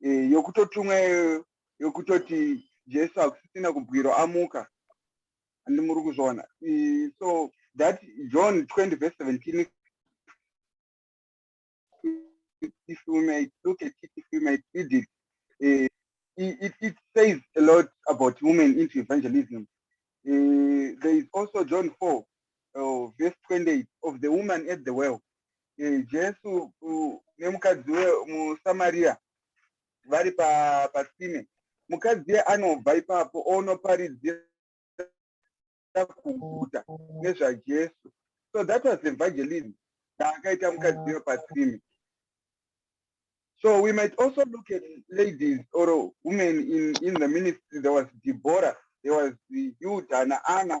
eh, yokutotumwa yokutoti jesu hakusisina kubwiro amuka handi muri kuzviona eh, so that john 20 verse 17 if you may look at it if you may read it uh, it, it says a lot about women into evangelism uh, there is also john 4 uh, verse 28 of the woman at the well eh, jesu nemukadzi wemusamaria vari patsime pa mukadzi ye anobva ipapo onoparidzira kuguta nezvajesu so that was evangelism daakaita mukadzi yo patsime So we might also look at ladies or women in, in the ministry. There was Deborah, there was Yuda and Anna,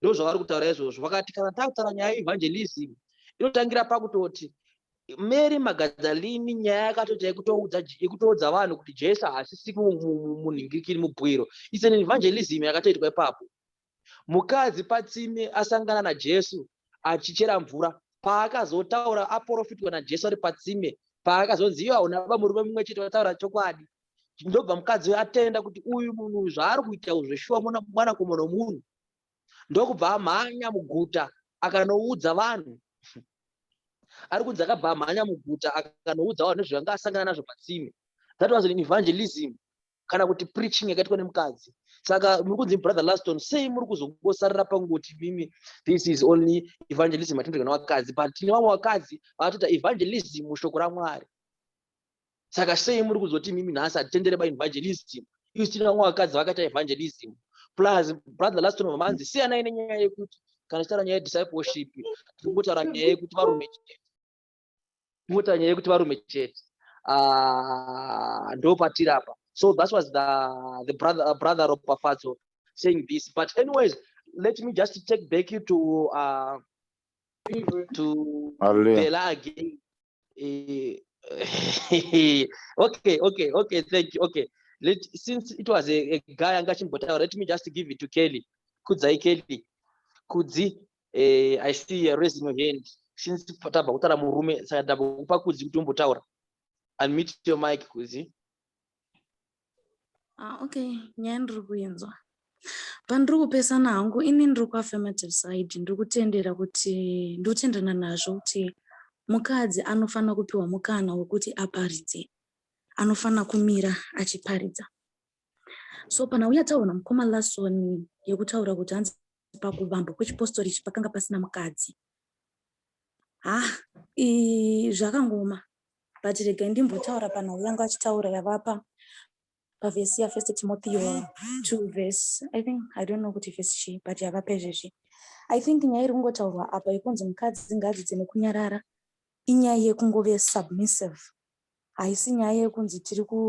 ndozvavari kutaura izvozvo vakati kana takutaura nyaya yeevangelism inotangira pakutoti mary magadzalini nyaya yakatoita yekutoudza vanhu kuti jesu haasisi munhingikiri mubwiro its an evangelism yakatoitwa ipapo mukadzi patsime asangana najesu achichera mvura paakazotaura aporofitwa najesu ari patsime paakazonzi iyo hauna baba murume mumwe chete vataura chokwadi ndobva mukadzi uyo atenda kuti uyu munhu zvaari kuita zvo zveshuwa mwana komona munhu ndokubva amhanya muguta akanoudza vanhu ari kunzi akabva amhanya muguta akanoudza vanhu nezvanga asangana nazvo patsime that was an evangelism kana kuti preaching yakaitwa nemukadzi saka muri kunzi brother laston sei muri kuzongosarira pangoti mimi this is only evangelism atinotoga nevakadzi but tine vamwe vakadzi vatoita evangelism mushoko ramwari saka sei muri kuzoti mimi nhasi hatitendere baevangelism isu tina vamwe vakadzi vakaita evangelism plus brother last one manzi siyanai nenyaya yekuti kana chitaura nyaya yediscipleship tiri kutaura nyaya yekuti varume chete kungota nyaya yekuti varume chete ah, ndopatiri apa so that was the, the brother, uh, brother ropafadzo saying this but anyways let me just take back you to uh, to Hallelujah. Bella again. Eh, okay, okay, okay, thank you. Okay. Let since it was a, a guy anga achimbotaura, let me just give it to Kelly. Kudzai Kelly. Kudzi, eh, I see you raising your hand. Since tabva kutaura murume, saka ndambokupa Kudzi kuti umbotaura. Unmute your mic, Kudzi. Ah, okay, nyaya ndiri kuinzwa. Pandiri kupesana hangu ini ndiri kuaffirmative side ndiri kutendera kuti ndiri kutenderana nazvo kuti mukadzi anofanira kupiwa mukana wekuti aparidze anofanira kumira achiparidza so pana uya taona mukoma lasoni yekutaura kuti hanzi pakuvambwa kwechipostori ichi pakanga pasina mukadzi ha ah, zvakangoma but regai ndimbotaura panhau yangu achitaura yavapa pavhesi yafirst timotheo 2 vhesi i think i don't know kuti vhesi chii but yavapa izvezvi i think nyaya iri kungotaurwa apa yekunzi mukadzi ngaadzidze nekunyarara inyaya yekungove submissive haisi nyaya yekunzi tiri ku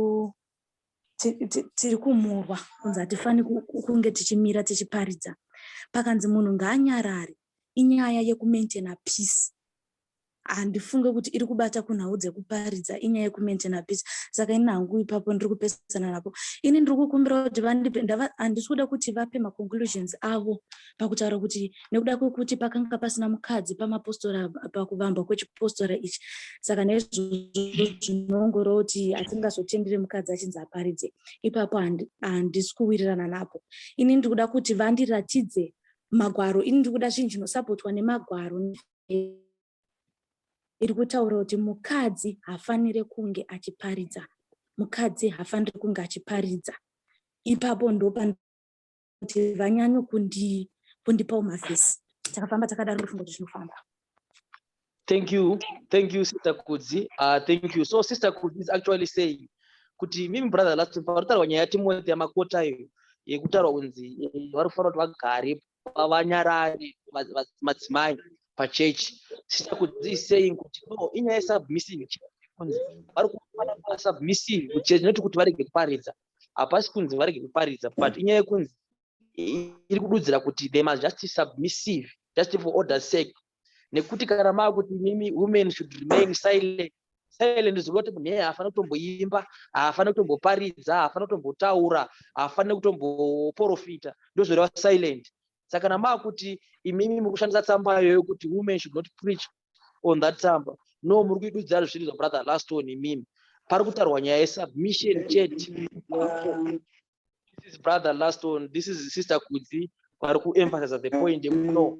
tiri kumurwa kunzi hatifani kunge tichimira tichiparidza pakanzi munhu ngaanyarare inyaya yekumaintaina peace handifunge kuti iri kubata kunhau dzekuparidza inyaya yekumaintaina peace saka ini hangu ipapo ndiri kupesana napo ini ndiri kukumbirawo kuti vandipe handisi kuda kuti vape maconclusions avo pakutaura kuti nekuda kwekuti pakanga pasina mukadzi pamapostora pakuvambwa kwechipostora ichi saka neizvozvo zvinoongoroo kuti hatingazotendere mukadzi achinzi aparidze ipapo handisi kuwirirana napo ini ndiri kuda kuti vandiratidze magwaro ini ndiri kuda zvinhu zvinosapotwa nemagwaro iri kutaura kuti mukadzi hafanire kunge achiparidza mukadzi hafanire kunge achiparidza ipapo ndopandoti vanyanyo kundipawo mavhesi takafamba takadaro ndofunga kuti zvinofamba thank you thank you sister kudzi uh, thank you so sister kudzi is actually saying kuti mimi brother last time panotaurwa nyaya yatimoti yamakota iyo yekutaurwa kunzi eh, vari kufanira kuti vagare vanyarari madzimai pachechi sita kuti iseying kuti no inyaya yesubmissing kunzi vari kufana kuva submissing kuti chinoti kuti varege kuparidza hapasi kunzi varege kuparidza but inyaya yekunzi iri kududzira kuti they must just submissive just for order sake nekuti kana maakuti mimi women should remain silent silent ziva kuti munhu eye haafani kutomboimba haafani kutomboparidza haafani kutombotaura haafani kutomboporofita ndozvoreva silent saka kana maakuti imimi muri kushandisa tsamba iyoyo kuti women should not preach on that tsamba no muri kuidudza zviri zvabrother last one imimi pari kutarwa nyaya yesubmission chete this is brother last one this is sister kudzi vari kuemphasiza the point no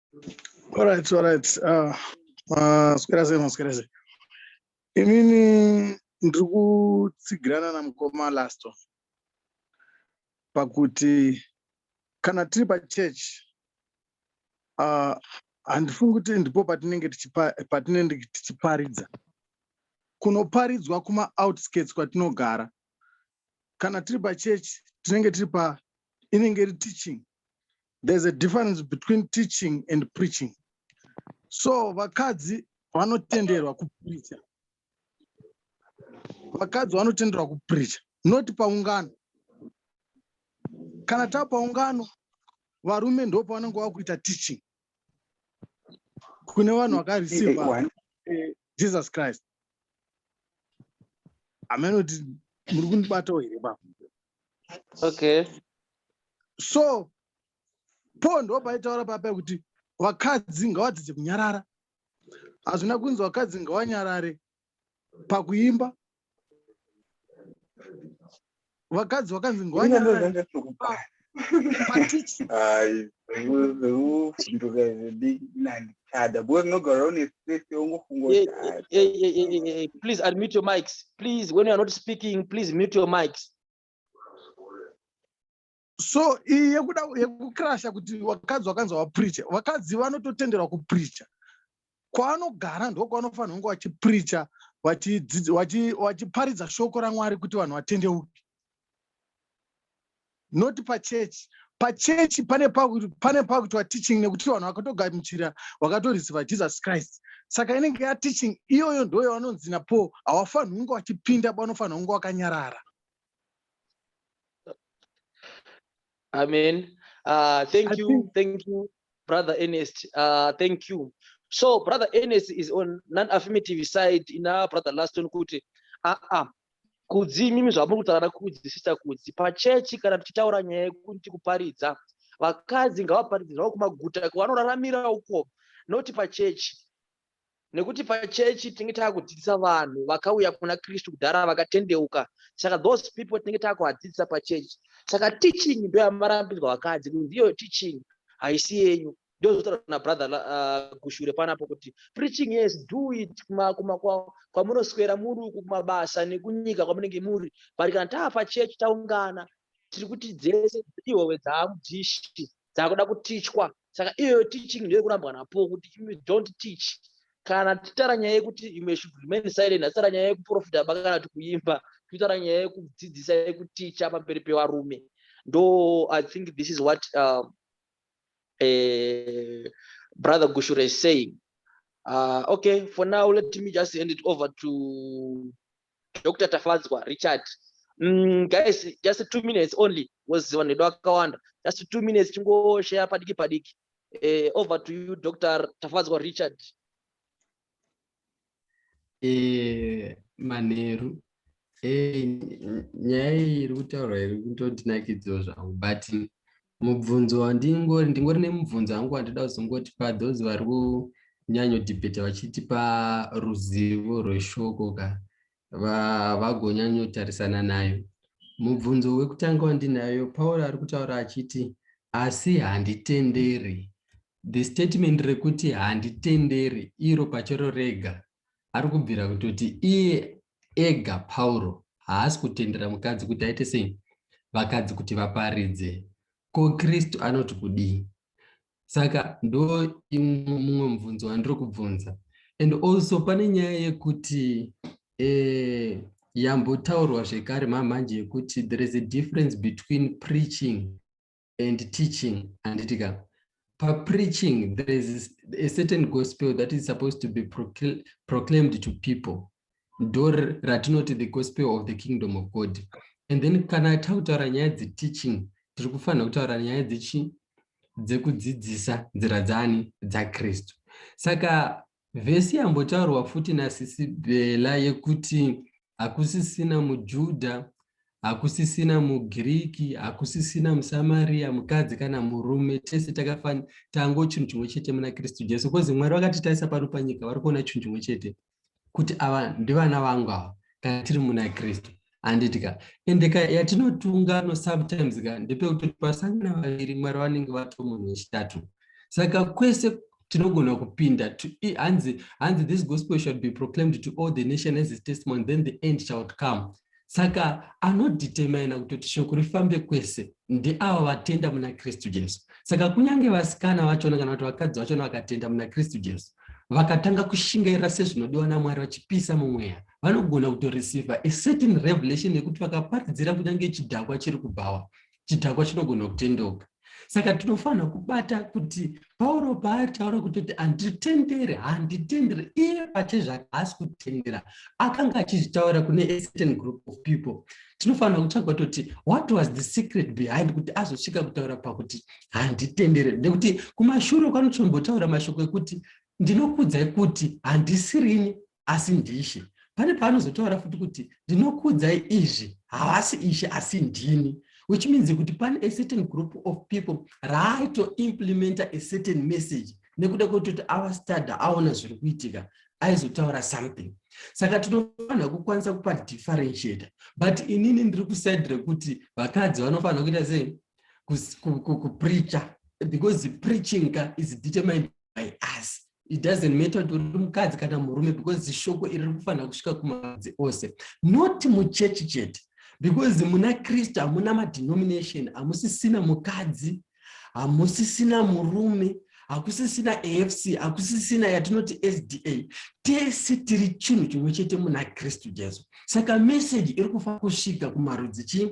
All right, all right. Uh, uh, swera sei maswera sei. Imini ndiri kutsigirana namukoma Lasto pakuti kana tiri pachurch uh, handifungi kuti ndipo patinenge patinenge tichiparidza kunoparidzwa kuma outskirts kwatinogara kana tiri pachurch tinenge tiri pa inenge iri teaching there's a difference between teaching and preaching so vakadzi vanotenderwa kupricha vakadzi vanotenderwa kupricha not paungano kana tava paungano varume ndopavanenge vakuita teaching kune vanhu vakareceiva eh, eh, eh, jesus christ hameno kuti muri kundibatawo here pa okay so po ndo paitaura papa kuti vakadzi ngavadzidze kunyarara hazvina kunzi vakadzi ngavanyarare pakuimba vakadzi vakanzi ngwanyaaplease admute your mics please when youare not speaking please mute your mics so iyi yekuda yekukrasha kuti vakadzi vakanzi vapricha vakadzi vanototenderwa kupricha kwaanogara ndo kwaanofanira kunge vachipricha vachiparidza shoko ramwari kuti vanhu vatendeuke not pachechi pachechi pane pakuitwa teaching nekuti vanhu vakatogamuchira vakatorisiva jesus christ saka inenge yateaching iyoyo ndoyo vanonzi napo havafaniri kunge vachipinda banofanira kunge vakanyarara Amen. Uh, thank I you. Think... Thank you, Brother Ernest. Uh, thank you. So, Brother Ernest is on non affirmative side in our Brother Laston Kuti. Ah, ah. Kudzi imimi zvamuri kutaura kudzi sister kudzi pachechi kana tichitaura nyaya yekuti kuparidza vakadzi ngavaparidze zvavo kumaguta kwavanoraramira uko noti pachechi nekuti pachechi tinenge taakudzidzisa vanhu vakauya kuna kristu kudhara vakatendeuka saka those people tinenge taakuvadzidzisa pachechi saka teaching ndo yamarambidzwa vakadzi kuti ndiyo teaching haisi yenyu ndozvotaura na brother uh, kushure panapo kuti preaching yes do it kwamunoswera muri uku kumabasa nekunyika kwamunenge muri but kana taapachechi taungana tiri kuti dzese ihowe dzaamudishi dzakuda kutichwa saka iyoyo teaching ndiyo kurambwa napo kuti imi don't teach kana titara nyaya yekuti imwe should remain silent hatitara nyaya yekuprofita ba kana kuti kuimba titara nyaya yekudzidzisa yekuticha pamberi pevarume ndo i think this is what uh, uh, brother gushure is saying uh, okay for now let me just hand it over to Dr. Tafadzwa Richard. Mm, guys, just two minutes only was vanhu vedu vakawanda. Just two minutes tingoshare padiki padiki. Eh, over to you Dr. Tafadzwa Richard. Eh, manheru eh, nyaya iyi iri kutaurwa iri kutondinakidzawo zvangu but mubvunzo wandingori ndingori nemubvunzo hangu wandida kuzongotipa those vari kunyanyo debate vachitipa ruzivo rweshoko ka vagonyanyotarisana nayo mubvunzo wekutanga wandinayo pauro ari kutaura achiti asi handitenderi the statement rekuti handitenderi iro pachero rega ari kubvira kutoti iye ega pauro haasi kutendera mukadzi kuti aite sei vakadzi kuti vaparidze ko kristu anoti kudii saka ndo imwe mumwe mubvunzo wandiri kubvunza and also pane nyaya yekuti eh, yambotaurwa zvekare mamhanje yekuti there is a difference between preaching and teaching handiti ka papreaching there is a certain gospel that is supposed to be procl proclaimed to people ndo ratinoti the gospel of the kingdom of god and then kana takutaura nyaya dzeteaching tiri kufanira kutaura nyaya dzechi dzekudzidzisa nzira dzani dzakristu saka Vhesi yambotaurwa futi nasisi Bella yekuti hakusisina muJudha, hakusisina muGiriki, hakusisina muSamaria, mukadzi kana murume, tese takafanira tango chinhu chimwe chete muna Kristu Jesu. Kozi Mwari vakatitarisa pano panyika vari kuona chinhu chimwe chete kuti ava ndivana vangu ava kana tiri muna Kristu. handiti ka ende ka yatinotunga no sometimes ka ndepekutoti pasangana vaviri mwari vanenge vato munhu wechitatu saka kwese tinogona kupinda hanzi hanzi this gospel shall be proclaimed to all the nation as his testimony then the end shall come saka anodetermina kutoti shoko rifambe kwese ndeava vatenda muna kristu jesu saka kunyange vasikana vachona kana kuti vakadzi vachona vakatenda muna kristu jesu vakatanga kushingaira sezvinodiwa namwari vachipisa mumweya vanogona kutoreceiva a certain revelation yekuti vakaparidzira kunyange chidhakwa chiri kubhawa chidhakwa chinogona kutendeuka saka tinofanira kubata kuti pauro paataura kutoti handitendere handitendere iye pachezvake haasi kutendera akanga achizvitaura kune a certain group of people tinofanira kutsvaga toti what was the secret behind kuti azosvika kutaura pakuti handitendere nekuti kumashure kwanotombotaura mashoko ekuti ndinokudzai kuti handisirini asi ndishe pane paanozotaura futi kuti ndinokuudzai izvi havasi ishe asi ndini which means kuti pane a certain group of people raaitoimplementa a certain message nekuda kwekutoti ava stada aona zviri kuitika aizotaura something saka tinofanira kukwanisa kupa differentiator but inini ndiri kuside rekuti vakadzi vanofanira kuita sei kupreacha because preaching ka is determined by us it doesn't matter kuti uri mukadzi kana murume because zishoko iri rikufanira kusvika kumadzi ose not muchechi chete because muna kristu hamuna madenomination hamusisina mukadzi hamusisina murume hakusisina afc hakusisina yatinoti sda tese tiri chinhu chimwe chete muna kristu jesu saka meseji iri kufanira kusvika kumarudzi chii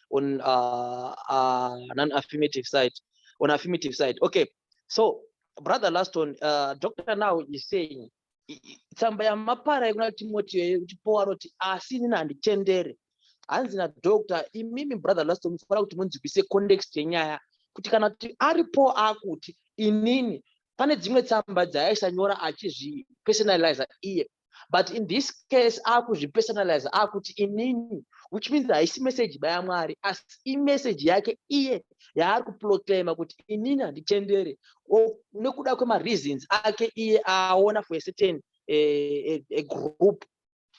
on uh, uh, non-affirmative side on affirmative side okay so brother laston uh, doctor now is saying tsamba yamapara yekuna timotiyo yekuchipowa roti asi inini handitendere hanzi nadoctor imimi brother laston mufanira kuti munzwise context yenyaya kuti kana kuti aripo akuti inini pane dzimwe tsamba dzaaisanyora achizvipersonaliza iye but in this case akuzvipersonalize akuti inini which means haisi message baya mwari asi imessage yake iye yaari kuproclaima kuti inini handitendere nekuda kwemareasons ake iye aona for a certain a, a, a group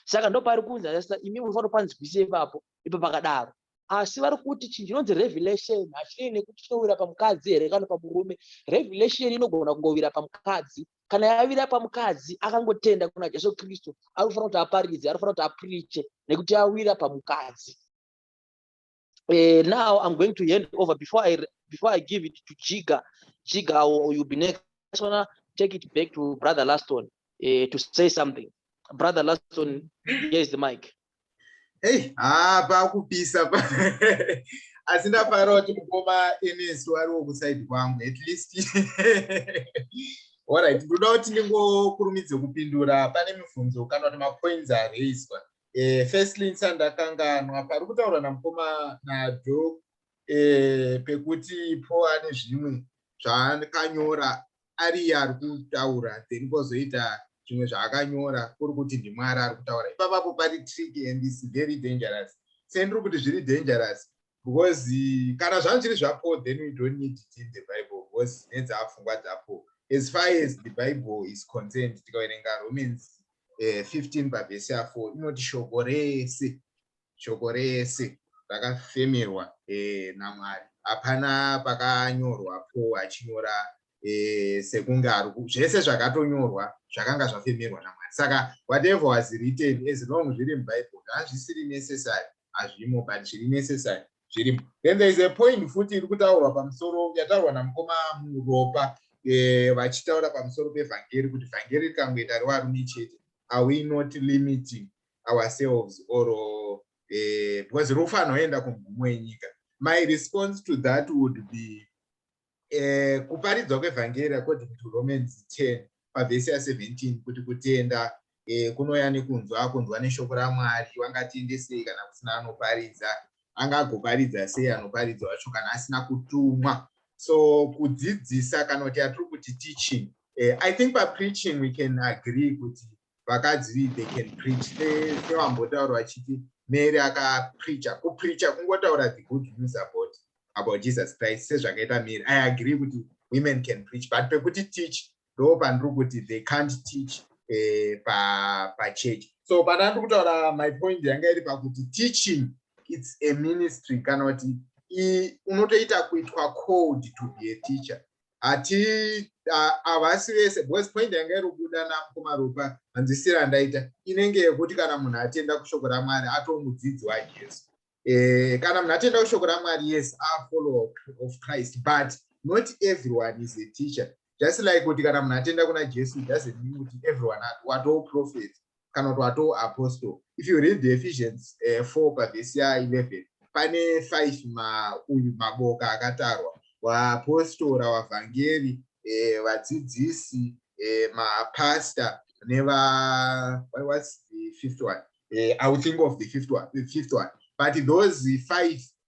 saka ndo pari kunzi asista imi munofanira panzwise ipapo ipo pakadaro asi vari kuti chinhu chinonzi revelation hachinei nekuti chinowira pamukadzi here kana pamurume revelation inogona kungovira pamukadzi kana yavira pamukadzi akangotenda kuna jesu kristu anofanira kuti aparidze anofanira kuti apriche nekuti yawira pamukadzi uh, now i'm going to hand over before i before i give it to jiga jiga or you'll be next i just wanna take it back to brother laston uh, to say something brother laston here's the mic Hey, ah, pakupisa pa. asi ndafara kuti mukoma ns wariwo kusaidi kwangu at least orit ndoda kuti ndingokurumidze kupindura pane mibvunzo kana kuti mapoints araiswa eh, firstly nsa ndakanganwa pari kutaurwa namukoma nado eh, pekuti po ane zvimwe zvaakanyora ariye ari kutaura then kozoita zvimwe zvaakanyora kuri kuti ndimwari ari kutaura ipapapo pari trick and is very dangerous sendiri kuti zviri dangerous because kana zvanhu zviri zvapo then we don't need it in the bible because nedzaapfungwa dzapo as far as the bible is concerned tikaverenga romans 15 eh, pavhesi ya4 inoti shoko rese shoko rese rakafemerwa eh, namwari hapana pakanyorwa po achinyora eh, sekunge ari zvese zvakatonyorwa zvakanga zvafemerwa namwari saka whatever was written as long zviri mubible hazvisiri necessary hazvimo but zviri necessary zvirimo then there is a point futi iri kutaurwa pamusoro yataurwa namukoma muropa eh, vachitaura pamusoro pevhangeri kuti vhangeri rikangoita revarume chete are we not limiting ourselves or uh, because rufu anoenda kumgumo yenyika my response to that would be uh, kuparidzwa kwevhangeri according to romans 10 pavhesi ya 17 kuti kutenda uh, kunoya nekunzwa kunzwa neshoko ramwari wangatendesei kana kusina anoparidza angagoparidza sei anoparidza wacho kana asina kutumwa so kudzidzisa kana kuti atiri kuti teaching uh, i think papreaching we can agree kuti vakadzi they can preach sevambotaura vachiti mary akapreacha kupreacha kungotaura the good news about about jesus christ sezvakaita mary i agree kuti women can preach but pekuti teach ndo pandiri kuti they can't teach eh, pachurch pa so pana ndiri kutaura my point yanga iri pakuti teaching its a ministry kana kuti unotoita kuitwa called to be a teacher hati havasi vese because point yanga irobuda namukoma ropa hanzwisira yandaita inenge yekuti kana munhu atenda kushoko ramwari atomudzidzi wajesu eh, kana munhu atenda kushoko ramwari yes afollower of christ but not everyone is a teacher just like kuti kana munhu atenda kuna jesu doesn't mean kuti everyone watoprofet kana kuti watoo apostle if you read the ephesians uh, eh, 4 pavhesi ya 11 pane 5 ma, uyu maboka akatarwa waapostora wavhangeri eh, vadzidzisi eh, mapasta neva what's the fifth one eh, i will think of the fifth one, the fifth one. but those five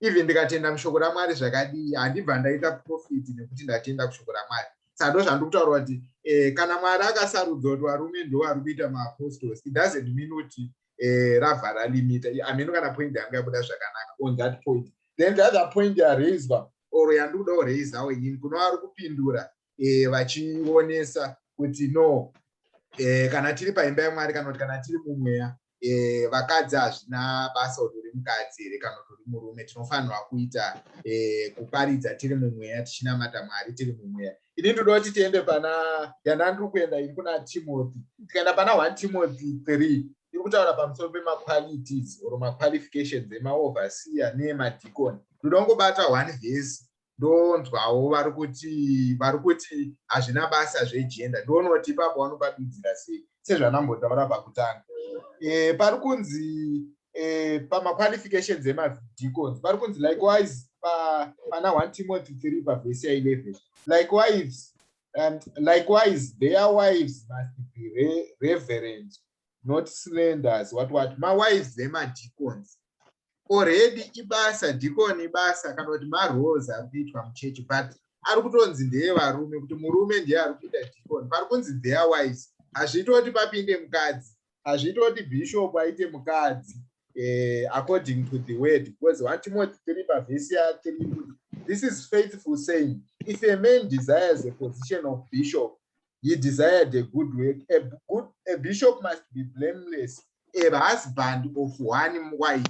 even ndikatenda mushoko ramwari zvakadii handibva ndaita profit nekuti ndatenda kushoko ramwari saka ndo zvandiri kutaura kuti eh, kana mwari akasarudza kuti varume ndovari kuita maapostles it doesn't mean kuti eh, rabva ralimita ameno kana point yangu yabuda zvakanaka on that point then the other point yaraiswa or yandiri kuda kuraisawo inini kuno vari kupindura eh, vachionesa kuti no eh, kana tiri paimba yamwari kana kuti kana tiri mumweya eh, vakadzi hazvina basa kuti uri mukadzi here kana kuti uri murume tinofanirwa kuita eh, kuparidza tiri mumweya tichinamata mwari tiri mumweya ini ndinoda kuti tiende pana yana ndiri kuenda ini kuna timothy tikaenda pana one timothy three iri kutaura pamusoro pemaqualities or maqualifications emaoverseer neemadicon ndinoda kungobata one vhesi ndonzwawo vari kuti vari kuti hazvina basa zvegender ndonoti ipapo vanopadudzira sei sezvanambotaura pakutanga e, pari kunzi e, pamaqualifications emadeacons pari kunzi likewise pa, pana 1 timothy 3 pavhesi ya 11 likewise and likewise their wives must be re, reverent not slenders what what mawives emadeacons already ibasa deacon ibasa kana kuti maroles ari kuitwa muchechi but ari kutonzi ndeye varume kuti murume ndiye ari kuita deacon pari kunzi their wives hazviite kuti papinde mukadzi hazviite kuti bishop aite mukadzi eh, according to the word because one timoti tiri pavhesi yatiri kuti this is faithful saying if a man desires a position of bishop he desired a good work a, good, a bishop must be blameless a husband of one wife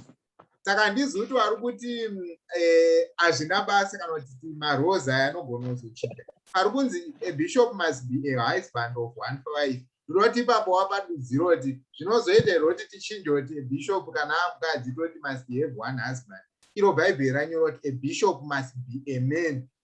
saka handizi kuti vari kuti eh, hazvina eh, basa kana kuti marose aya anogona kuzochinja ari kunzi a bishop must be a husband of one wife ndinoti ipapo wapadudziro kuti zvinozoita here kuti tichinje kuti a bishop kana amukadzi toti must have one husband iro bhaibheri ranyora kuti a bishop must be a man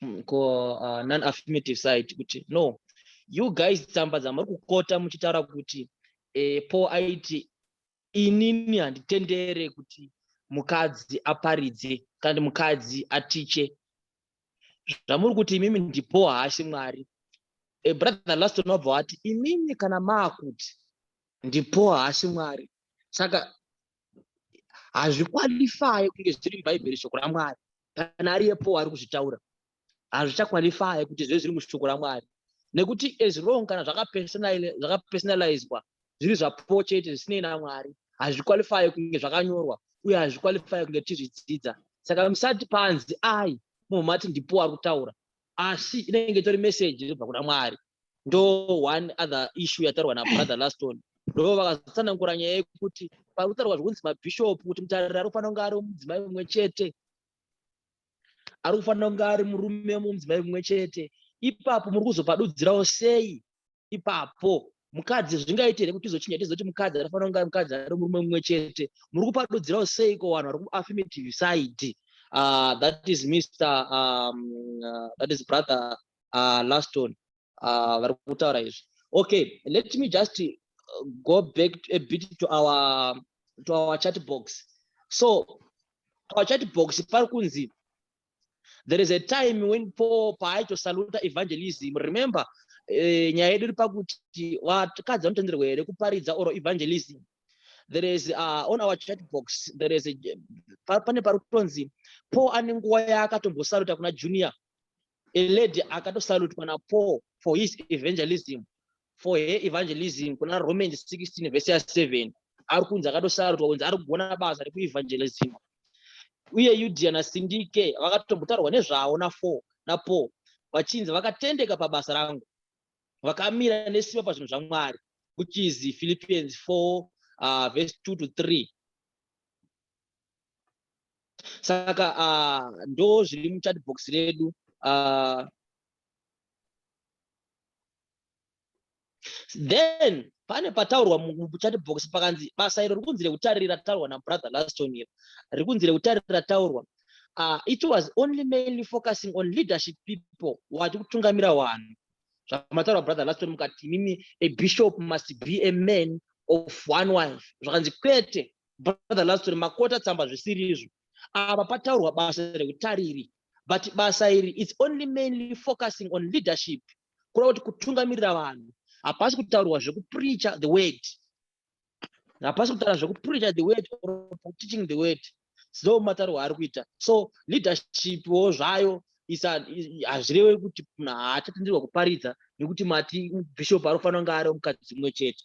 mm, ko uh, non affirmative side kuti no you guys tsamba dzamuri kukota muchitaura kuti eh, paul aiti inini handitendere kuti mukadzi aparidze kana kuti mukadzi atiche zvamuri kuti imimi ndipo haasi mwari a brother last unobva wati imimi kana maakuti ndipo haasi mwari saka hazvikwalifaye kunge zviri mubhaibheri shoko ramwari kana ari yepo ari kuzvitaura hazvichakwalifaye kuti zvive zviri mushoko ramwari nekuti as long kana zvakapersonalizwa zviri zvapo chete zvisinei namwari hazvikwalifaye kunge zvakanyorwa uye hazvikwalifaye kunge tizvidzidza saka musati panzi ai munhu mati ndipo ari kutaura asi inenge itori meseji inobva kuna mwari ndo one other issue yataurwa nabrother laston ndo vakazotsanangura nyaya yekuti pakutaurwa zvekunzi mabhishop kuti mutariri ari kufanira kunge ari mudzimai mumwe chete ari kufanira kunge ari murume mumudzimai mumwe chete ipapo muri kuzopadudzirawo sei ipapo mukadzi zvingaite here kuti tizochinja tizoti mukadzi anofanira kunge ari mukadzi ari murume mumwe chete muri kupadudzirawo sei ko vanhu vari kuaffirmative side uh, that is mr um, uh, that is brother uh, last one uh, vari kutaura izvi okay let me just uh, go back a bit to our to our chat box so our chat box pari kunzi there is a time when paul paaitosaluta evangelism remember eh, nyaya yedu iri pakuti vakadzi vanotenderwa here kuparidza or evangelism there is uh, on our chat box there is a pane pari kutonzi paul ane nguva yaakatombosaruta kuna junior a lady akatosalutwa napaul for his evangelism for her evangelism kuna roman 16 vese ya 7 ari kunzi akatosalutwa kunzi ari kugona basa rekuevangelism uye yudia nasindike vakatombotaurwa nezvavo nafour napaul vachinzi vakatendeka pabasa rangu vakamira nesimba pazvinhu zvamwari which is philippians 4 uh, verse 2 to 3 saka uh, ndo zviri muchat box redu uh, then pane pataurwa muchat box pakanzi basa iro rikunzi rekutarira taurwa nabrother laston iro rikunzi rekutarira taurwa uh, it was only mainly focusing on leadership people wati kutungamira vanhu zvamataura brother laston mukati imimi a bishop must be a man of one wife zvakanzi kwete brother laston makota tsamba zvisiri izvo ava pataurwa basa rekutariri but basa iri its only mainly focusing on leadership kura kuti kutungamirira vanhu hapasi kutaurwa zvekupreacha the word hapasi kutaura zvekupreacha the word or teaching the word so mataurwa ari kuita so leadership wo zvayo hazvireve kuti munhu haachatenderwa kuparidza nekuti mati bishop anofanira kunge ari mukadzi mumwe chete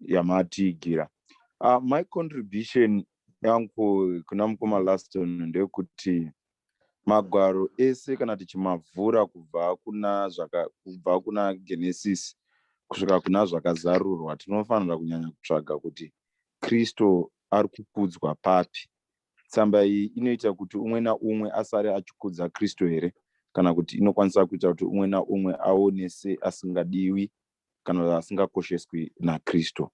yamatiigira uh, my contribution yangu kuna mukoma laston ndeyekuti magwaro ese kana tichimavhura kubva kuna zvaka kubva kuna genesis kusvika kuna zvakazarurwa tinofanira kunyanya kutsvaga kuti kristu ari kukudzwa papi tsamba iyi inoita kuti umwe naumwe asare achikudza kristu here kana kuti inokwanisa kuita kuti umwe naumwe aone seasingadiwi kana vasingakosheswi nakristu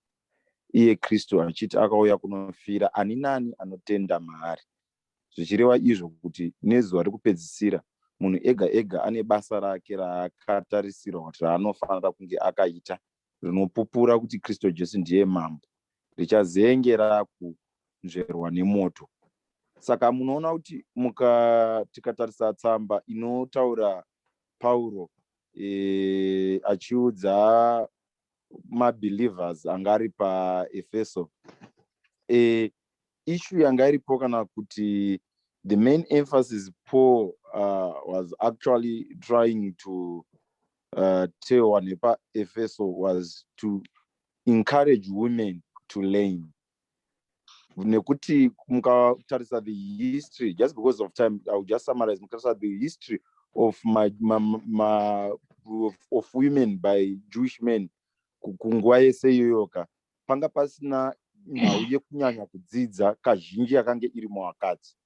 iye kristu achiti akauya kunofira ani nani anotenda maari zvichireva izvo kuti nezuva rekupedzisira munhu ega ega ane basa rake raakatarisirwa kuti raanofanira kunge akaita rinopupura kuti kristu jesu ndiye mambo richazenge rakunzverwa nemoto saka munoona kuti muka tikatarisa tsamba inotaura pauro e, achiudza mabelievers anga ari paefeso e, ishu yanga iripo kana kuti the main emphasis paul uh, was actually trying to uh, tell wanepaefeso was to encourage women to learn nekuti mukatarisa the history just because of time i will just summarize mukatarisa the history of my, my, my of, of women by jewish men kunguva yese iyoyoka panga pasina nhau yekunyanya kudzidza kazhinji yakange iri muvakadzi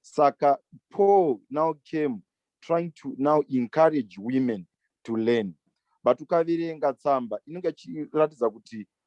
saka paul now came trying to now encourage women to learn but ukaverenga tsamba inenge ichiratidza kuti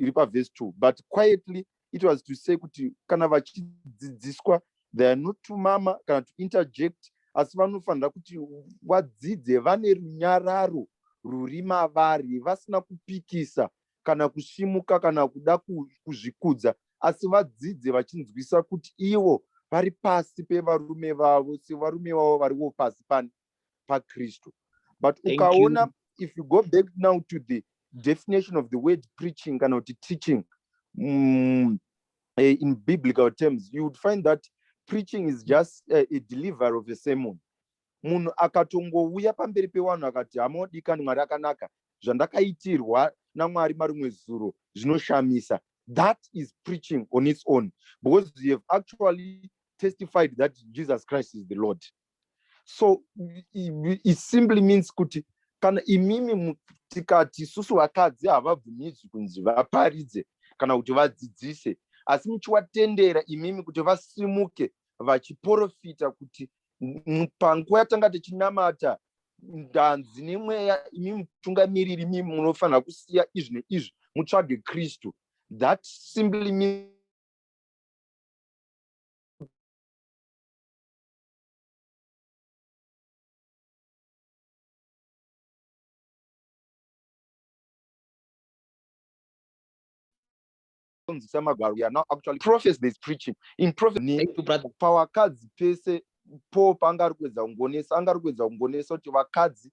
iri pavhesi two but quietly it was to say kuti kana vachidzidziswa they are not to mama kana to interject asi vanofanira kuti vadzidze vane runyararo ruri mavari vasina kupikisa kana kusimuka kana kuda kuzvikudza asi vadzidze vachinzwisa kuti ivo vari pasi pevarume vavo sevarume vavo variwo pasi pane pakristu but ukaona if you go back now to the definition of the word preaching kana kuti teaching mm, eh, in biblical terms you would find that preaching is just uh, a delivery of a sermon munhu akatongouya pamberi pewanhu akati hamodikani mwari akanaka zvandakaitirwa namwari marimwe zuro zvinoshamisa that is preaching on its own because you have actually testified that jesus christ is the lord so it simply means kuti kana imimi tikati isusu vakadzi havabvumidzwi kunzi vaparidze kana kuti vadzidzise asi muchiwatendera imimi kuti vasimuke vachiporofita kuti panguva yatanga tichinamata ndanzi nemweya imi mutungamiriri imi munofanira kusiya izvi neizvi mutsvage kristu that simply means kunzisa magwaro we are now actually prophets there's preaching in prophet pavakadzi pese po panga ari kuedza kungonesa anga ari kuedza kungonesa kuti vakadzi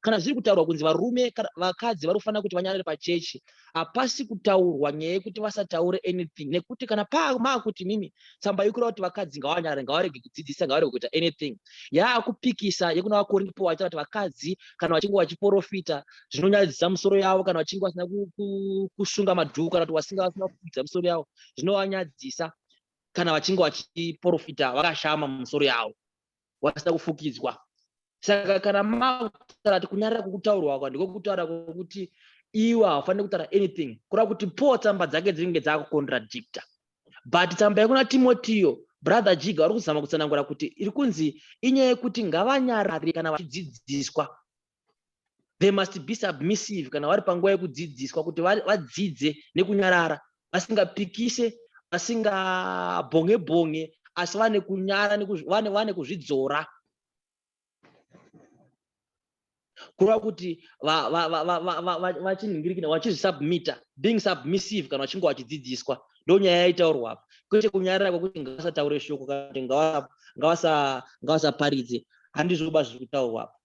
kana zviri kutaurwa kunzi varume vakadzi vari kufanira kuti vanyarare pachechi hapasi kutaurwa nyaya yekuti vasataure anything nekuti kana pamaakuti mimi tsamba yekura kuti vakadzi ngavanyarare ngavarege kudzidzisa ngavarege kuita anything yaakupikisa yekuna vakorinpo vaita kuti vakadzi kana vachinge vachiporofita zvinonyadzisa musoro yavo kana vachinge vasina kusunga madhuku kana kuti vasinga vasina kufudza musoro yavo zvinovanyadzisa kana vachinge vachiporofita vakashama musoro yavo wasina kufukidzwa saka kana makutaura kuti kunyarara kwokutaurwa kwa ndiko kutaura kwokuti iwe haufaniri kutaura anything kureva kuti paul tsamba dzake dzinenge dzakucontradicta but tsamba yekuna timotiyo brother jiga vari kuzama kutsanangura kuti iri kunzi inyaya yekuti ngavanyarare kana vachidzidziswa they must be submissive kana vari panguva yekudzidziswa kuti vadzidze nekunyarara vasingapikise vasingabhonge bhonge asi vane kunyara vane kuzvidzora kureva kuti vachinhingirikina vachizvisubmita being submissive kana vachinge vachidzidziswa ndonyaya yaitaurwa apa kwete kunyarira kwekuti ngavasataure shoko kana kuti ngavasaparidze handizvoba zviri kutaurwa apa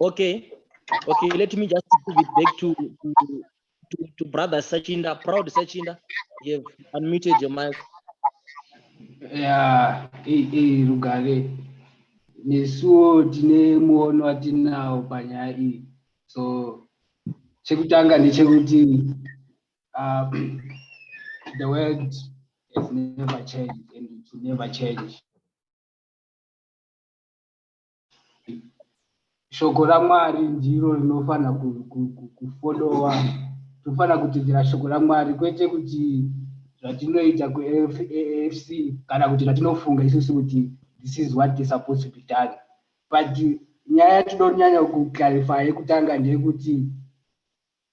Okay. Okay, let me just give it back to, to, to, to brother Sachinda. Proud Sachinda, you have unmuted your mic. Yeah, hey, hey, Rugare. Nesuwo tine muono watinawo panyaya iyi. So chekutanga ndechekuti um, the world has never changed and it will never change shoko ramwari ndiro rinofanira kufolowa tofanira kutedzera shoko ramwari kwete kuti zvatinoita kuafc kana kuti zvatinofunga isusu kuti this is what is supposed to be done but nyaya yatinonyanya kuclarify yekutanga ndeyekuti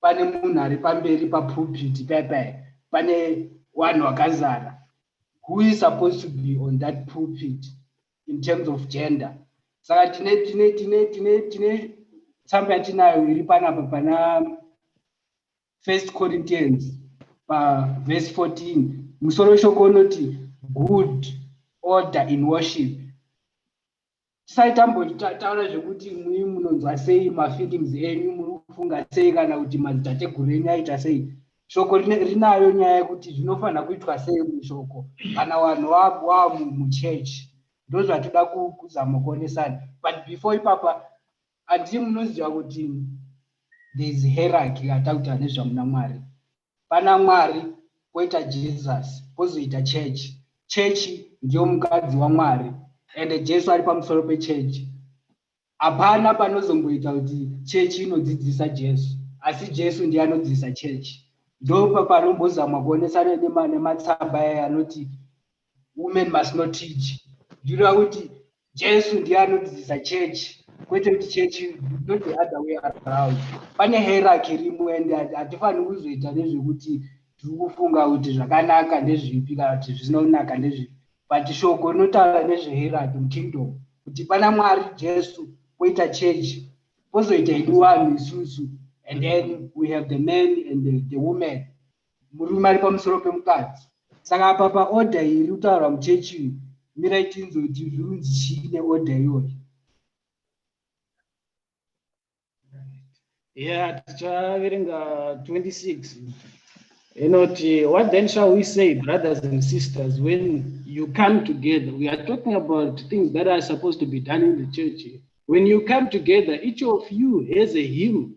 pane munhu ari pamberi papulpiti paipai pane vanhu vakazara who is supposed to be on that pulpit in terms of gender saka tine tine tine tine tine tsamba yatinayo iri panapa pana first corinthians pavhesi 14 musoro shoko unoti good order in worship tisai tambotaura zvekuti mui munonzwa sei mafeelings enyu muri kufunga sei kana kuti madzitateguru enyu aita sei shoko rinayo nyaya yekuti zvinofanira kuitwa sei mushoko kana vanhu vamuchurch ndo zvatoda kuzama kuonesana but before ipapa andii munoziva kuti thereis heraky atakuta nezvamuna mwari Pana Mwari poita Jesus pozoita church. Church ndiyo mukadzi waMwari and Jesu ari pamusoro pechurch. Hapana panozomboita kuti church inodzidzisa Jesu asi Jesu ndiye anodzidzisa church. Ndopapanobozamwa kuonesana nematsamba aya anoti women must not teach ndinoda kuti jesu ndiye anodzidzisa church kwete kuti church not the other way around pane hierarchy rimo and hatifaniri kuzoita nezvekuti tiri kufunga kuti zvakanaka ndezvipi kana kuti zvisina kunaka ndezvipi but shoko rinotaura nezvehierarchy mukingdom kuti pana mwari jesu kwoita church kwozoita idu vanhu isusu and then we have the man and the, the woman murume ari pamusoro pemukadzi saka apa paorder iri kutaurwa muchechi uyu mirai tinzwe kuti zvirunzi chii neorder iyoyo yeah tichaverenga 26 inoti what then shall we say brothers and sisters when you come together we are talking about things that are supposed to be done in the church when you come together each of you has a hymn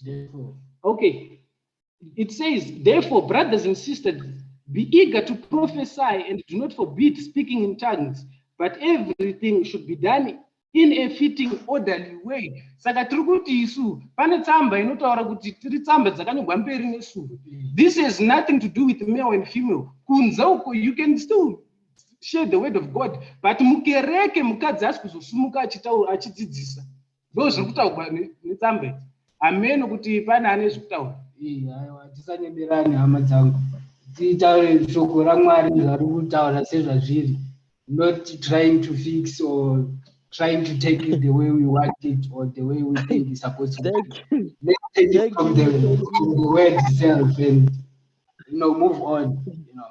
Therefore. Okay. It says, therefore, brothers and sisters, be eager to prophesy and do not forbid speaking in tongues, but everything should be done in a fitting orderly way saka tiri kuti isu pane tsamba inotaura kuti tiri tsamba dzakanyorwa mberi nesure this has nothing to do with male and female kunze uko you can still share the word of god but mukereke mukadzi asi kuzosumuka achitaura achidzidzisa ndo zviri kutaurwa netsamba idzi hameno kuti pane ane zviri kutaura aiwa tisanyeberani hama dzangu tiitaure shoko ramwari zvari kutaura sezvazviri not trying to fix or trying to take it the way we want it or the way we think is supposed to let's take it from the, from the word itself and you know move on you know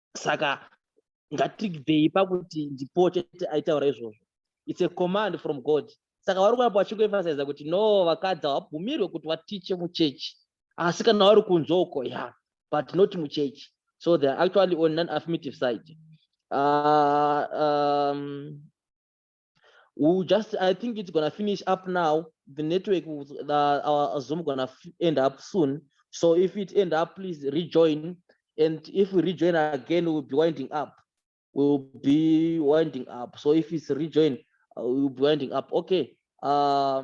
saka ngatiribvei pakuti ndipo chete aitaura izvozvo its a command from god saka vari kuramba vachingoemphasiza kuti no vakadzi havabvumirwe kuti vatiche muchechi asi kana vari kunze uko ya but not muchechi so they're actually on non affirmative side uh, um, we just i think it's gonna finish up now the network uh, our zoom gonna end up soon so if it end up please rejoin and if we rejoin again we'll be winding up we'll be winding up so if it's rejoin uh, we'll be winding up okay uh,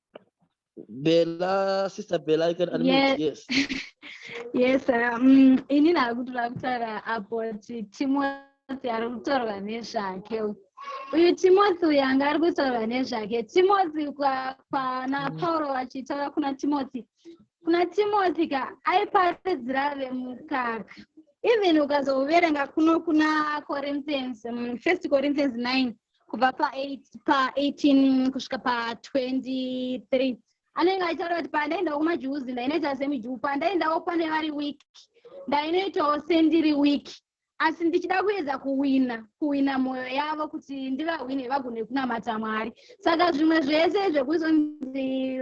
Bella, sister Bella, you can unmute. Yes. Yes. yes, um, ini nakuti vakutaura about Timothy ari kutaurwa nezvake. Uyu Timothy uyu anga ari kutaurwa nezvake. Timothy kwana mm. Pauro vachitaura kuna Timothy. Kuna Timothy ka aiparidzira vemukaka. Even ukazoverenga kuno kuna Corinthians, um, First Corinthians 9. kubva pa 18 kusvika pa 23 anenge achitaura kuti pandaendawo kumajuzi ndainoita semijuu pandaendawo pane vari week ndainoitawo sendiri week asi ndichida kuedza kuwina kuwina mwoyo yavo kuti ndivahwine vagone kunamata mwari saka zvimwe zvese zvekuzonzi